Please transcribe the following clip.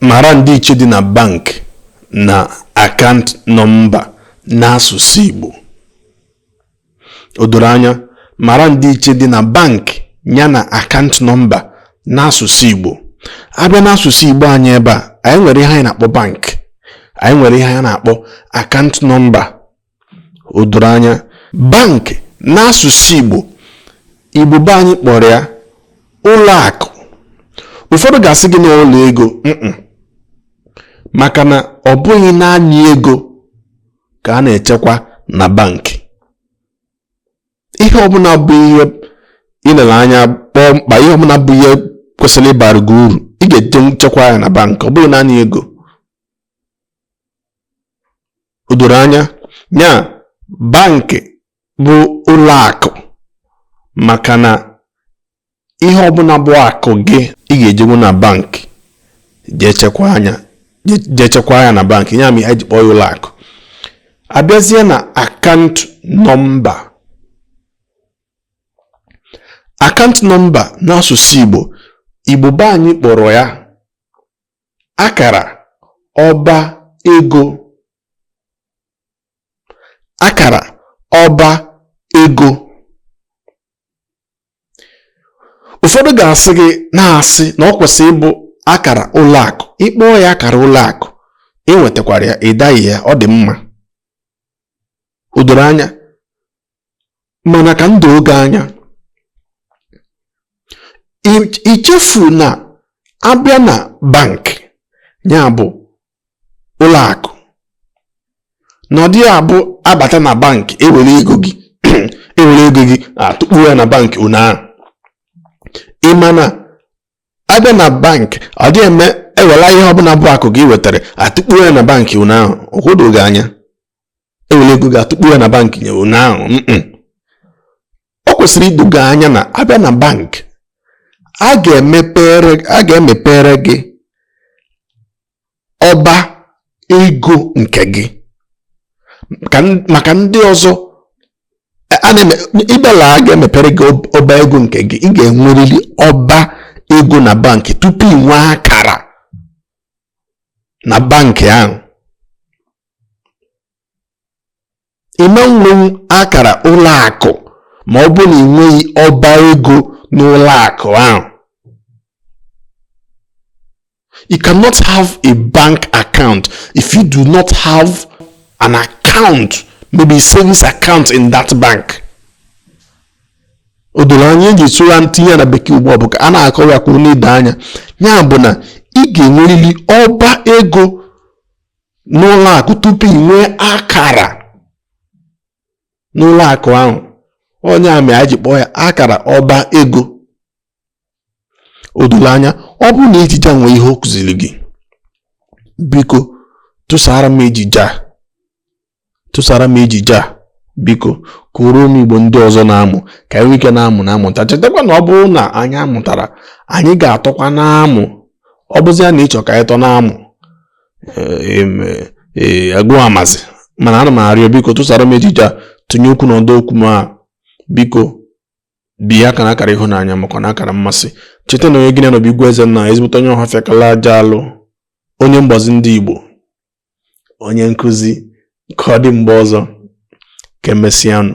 Mara ndịiche dị na bank na akaụnt nọmba n'asụsụ Igbo. O doro anya, mara ndịiche dị na bank ya na akaụnt nọmba n'asụsụ Igbo. A bịa n'asụsụ Igbo anyị ebe a, anyị nwere ihe anyị na-akpọ bank, anyị nwere ihe anyị na-akpọ akaụnt nọmba. o doro anya bank n'asụsụ Igbo Igbo be anyị kpọrọ ya ụlọ akụ ụfọdụ ga-asị gị na ụlọ ego maka na ọ bụghị naanị ego ka a na-echekwa na bankị ihe ọbụla bụ ihe i lere anya kpọọ mkpa ihe ọbụla bụ ihe kwesịrị ịbara gị uru ị ga-eje chekwa ya na bankị ọ bụghị naanị ego o doro anya ya bankị bụ ụlọ akụ maka na ihe ọbụla bụ akụ gị ị ga-ejenwu na bankị jee chekwaa ya jee chekwa ya na bankị ya mere e ji kpọọ ya ụlọ akụ a bịazie na akaụnt nọmba akaụnt nọmba n'asụsụ Igbo Igbo be anyị kpọrọ ya akara ọba ego akara ọba ego ụfọdụ ga-asị gị na-asị na ọ kwesịrị ịbụ akara ụlọ akụ ị kpọọ ya akara ụlọ akụ ị nwetakwara ya ị daghị ya ọ dị mma o doro anya mana ka m doo gị anya ichefu na a bịa na bank ya bụ ụlọ akụ na ọ dịghị abụ a bata na bank e were ego gị e were ego gị atụkpu ya na bank ụnyaahụ ị ma na a bịa na bank ọ dịghị eme e wela ihe ọbụla bụ akụ gị i wetara atụkpu ya na bank ụnyaahụ o doo gị anya e were ego gị atụkpu ya na bank nye ụnyaahụ ọ kwesịrị ido gị anya na a bịa na bank a ga-emepere gị ọba ego nke gị maka ndị ọzọ ịbịala a ga-emepere gị ọba ego nke gị ị ga-enwerịrị ọba ego na bank tupu ị nwee akara na bank ahụ ị ma nwenwu akara ụlọ akụ ma ọ bụ na ị nweghị ọba ego n'ụlọ akụ ahụ you cannot have a bank account if you do not have an account maybe a savings account in that bank o doro anya eji sụrụ tinye na bekee ugbu a ọ bụ ka a na-akọwa ya ka ọ na-edo anya ya bụ na ị ga-enwerịrị ọba ego n'ụlọ akụ tupu ị nwee akara n'ụlọ akụ ahụ ọ ya mere anyị ji kpọọ ya akara ọba ego o doro anya ọ bụrụ na ejije a nwee ihe ọ kụziri gị biko tụsara m ejije a tụsara m ejije a biko kụrụ m igbo ndị ọzọ na-amụ ka anyị nwee ike na-amụ na-amụta chetakwa na ọ bụrụ na anyị amụtara anyị ga-atọkwa na-amụ ọ bụzi ya na ị chọ ka anyị tọ na-amụ agụ amazi mana a na m arịọ biko tụsara m ejije a tinye okwu n'ọdọ okwu m a biko bie aka n'akara ịhụnanya makwa n'akara mmasị cheta na onye gị na ya nọ bụ igwe eze na ezigbote onye ọhafịa kalu aja alụ onye mgbazi ndị igbo onye nkụzi ka ọ dị mgbe ọzọ ka emesịanụ